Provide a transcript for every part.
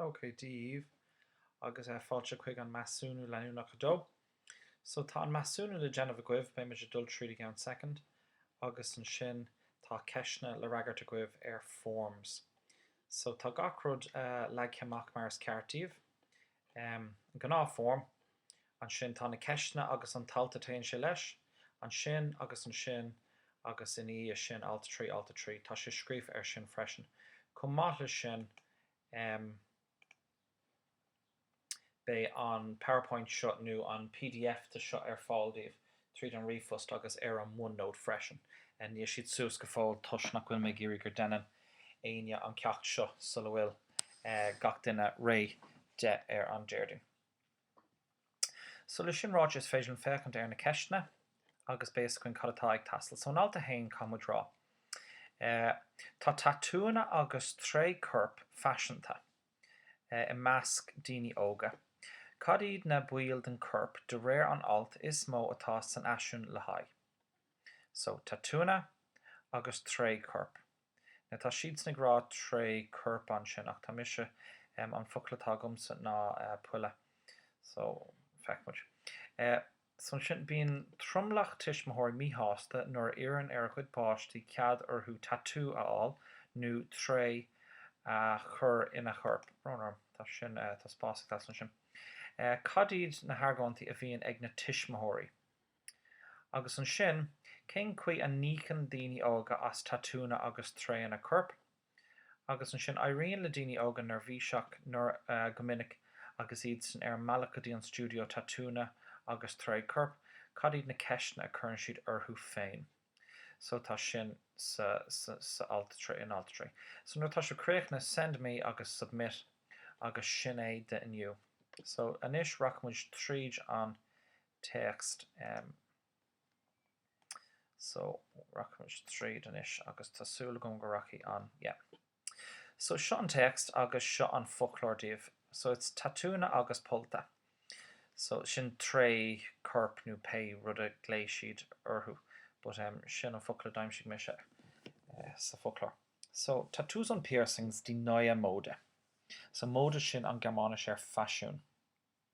OK, Dia daoibh, agus fáilte chuig an Measúnú Leanúnach 2. So, tá an measúnú le déanamh agaibh, beidh muid ag dul tríd i gceann soicind, agus ansin tá ceisteanna le fhreagairt agaibh ar Forms. So, tá gach rud leagtha amach mar is ceart daoibh. An gnáth foirm, ansin tá na ceisteanna agus an t-alt a téann sé leis, ansin agus ansin agus ina dhiaidh sin alt 3 alt 3. Tá sé scríofa ar sin freisin. Chomh maith leis sin beidh an PowerPoint seo nó an pdf de seo ar fáil daoibh tríd an ríomhphost agus ar an OneNote freisin. Níl siad suas go fóill toisc nach bhfuil mé ag iarraidh gur deineann éinne an ceacht seo sula bhfuil gach duine réidh de ar an Déardaoin. So le sin ráite is féidir linn féachaint ar na ceisteanna agus beidh fhios againn cad atá ag teastáil. So in alt a haon caithfimid rá Tá tatúanna agus treá coirp faiseanta. i measc daoine óga. Cad iad na baill den chorp de réir an alt is mó atá san fhaisiún le haghaidh so, tatúnna agus treá coirp? Now tá siadsan ag rá treá coirp ansin ach tá mise, an focal atá agamsa ná polladh so feicfimid. So ansin, bíonn tromlach tuismitheoirí míshásta nuair a iarrann ar a gcuid páistí cead orthu tatú a fháil nó treá a chur ina chorp. Brón orm, tá sin, tá spás ag teastáil ansin. Cad iad na hargóintí a bhíonn ag na tuismitheoirí? Agus ansin, cén chaoi a n-íocann daoine óga as tatúnna agus treánna coirp? agus ansin éiríonn le daoine óga neirbhíseach nuair a go minic agus iadsan ar an mbealach go dtí an stiúideo tatúnna agus treá coirp, cad iad na ceisteanna a chuireann siad orthu féin? So tá sin sa sa sa alt trí in alt trí. So nuair atá sibh críochnaithe send me agus submit agus sin é do inniu. So anois rachaidh muid tríd an téacs. So, rachaimid tríd anois agus tá súil agam go rachaidh an, yeah. So, seo an téacs agus seo an foclóir daoibh. So, it's tatúnna agus pollta. So, sin treá coirp nó pé rud a ghlaoigh siad orthu but em sin an focal a d'aimsigh mise sa foclóir. So, tattoos und piercings, die neue Mode. So, Mode sin an Gearmáinis ar faisiún.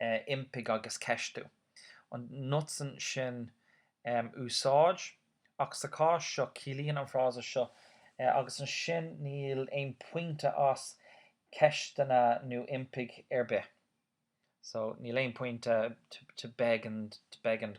impigh agus ceistiú, an nutzen sin um úsáid, ach sa chás seo ciallaíonn an frása seo agus ansin níl aon pointe as ceisteanna nó impigh ar bith. So níl aon pointe to beg and, to beg and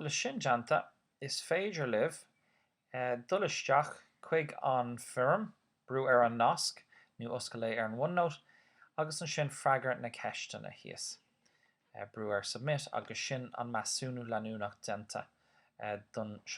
Leis sin déanta, is féidir libh dul isteach chuig an bhfoirm, brú ar an nasc nó oscail é ar an OneNote agus ansin freagair na ceisteanna thíos. Brú ar Submit agus sin an measúnú leanúnach déanta don.